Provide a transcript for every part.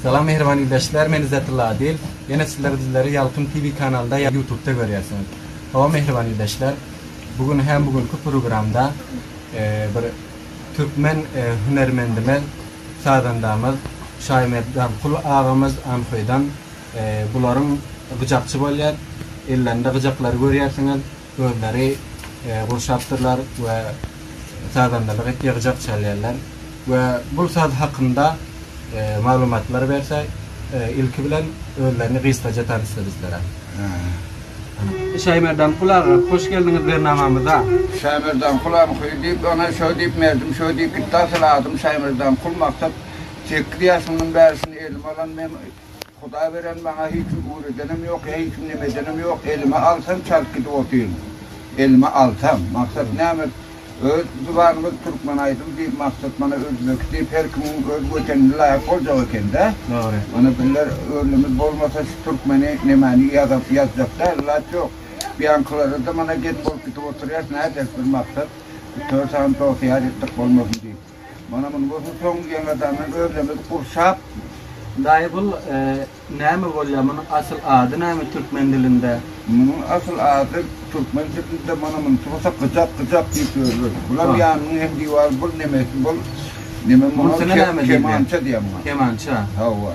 Salam mähriban ildeşler men Izzetulla Adil ýene sizler bizleri Ýalkym TV kanalynda ýa ýutubda görýärsiňiz hawa mähriban ildeşler bu gün hem bu günki programda bir türkmen hünermendimiz sazandamyz Şaýmerd Garkul agamyz Anhoýdan bularyň gyjakçy bolýar ellerinde gyjaklary görýärsiňiz özleri gurşapdyrlar we sazandalyk et ýygjak çalýarlar we bul saz hakynda maglumatlar berse ilki bilen özlerini gysgaja tanyşdyr bizlere. Şaýmerdan Kul aga hoş geldiňiz bernamamyza. Şaýmerdan Kul agam hyý diýip öňe şo diýip merdim şo diýip gitdi asyl adym Şaýmerdan Kul Maksat sekiz ýaşymdan bäri şuny elim alan men. Hudaý beren maňa hiç kim ugur edenem ýok, hiç kim neme edenem ýok, elime alsam çalt gidip otyryn. Elime alsam, maksat näme? Öz zubanymyz türkmen aýdym diýip maksat mana özbeki diýip her kimiň öz wetenine laýyk boljak ekende. Dogry. Mana birler özlemiz bolmasa şu türkmeni nemäni ýazap ýazjakda ilat ýok. Buýankylara-da mana geň bolup gidip oturýas nädýäs bir maksat üç-dört sany dost ýar etdik bolmasyn diýip. Mana muny görseň ýaňadan men özlemi gurşap. Daýy bul näme bolýar munuň asyl ady näme türkmen dilinde. Munuň asyl ady türkmen dilinde mana muny tuwasa gyjak gyjak diýip ýörler. Bulam ýanynyň hem diwary bul nemesi bul neme muňa kemança diýýär muňa. Kemança. Hawa.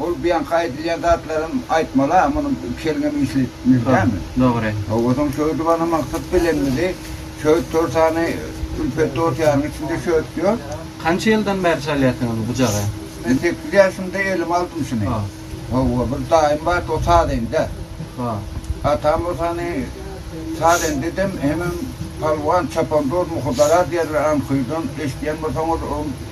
Ol buýanky aýdylýan zatlaram aýtmala munuň iki eliňem işli mümkin dälmi. Dogry. Hawa soň şöwdi bana maksat bilenmidi. Şöwt torsany Ülpet dos ýaryň içinde şöwt ýok. Kança ýyldan bäri çalýarsyňyz bu jagy? Men sekiz ýaşymda elime aldym şuny. Hawa bir daýym bardy o sazende. Atam bolsa hany sazende dem hemem palwan çapandoz muhydara diýerler anhyrdan eşidýän bolsaňyz ol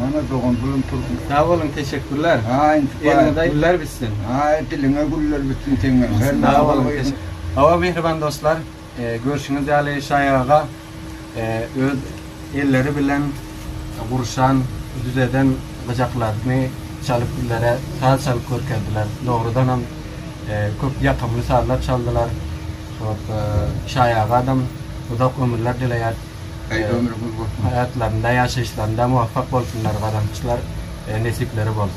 Mana dogan Zulum Turkmen. Sag boluň teşekkürler. Eliňize güller bitsin. Aý diliňe güller bitsin seňem. Sag boluň. Hawa mähriban dostlar görşüňiz ýaly Şaýy aga öz elleri bilen gurşan, düzeden gyjaklaryny çalyp bizlere saz çalyp görkezdiler. Dogrudanam köp ýakymly sazlar çaldylar. Şaýy agadam uzak ömürler dileýäris. Gaýgy ömri gul bolsun. Haýatlarynda, ýaşaýyşlarynda muwaffak bolsunlar gazançlar, nesipleri bolsun.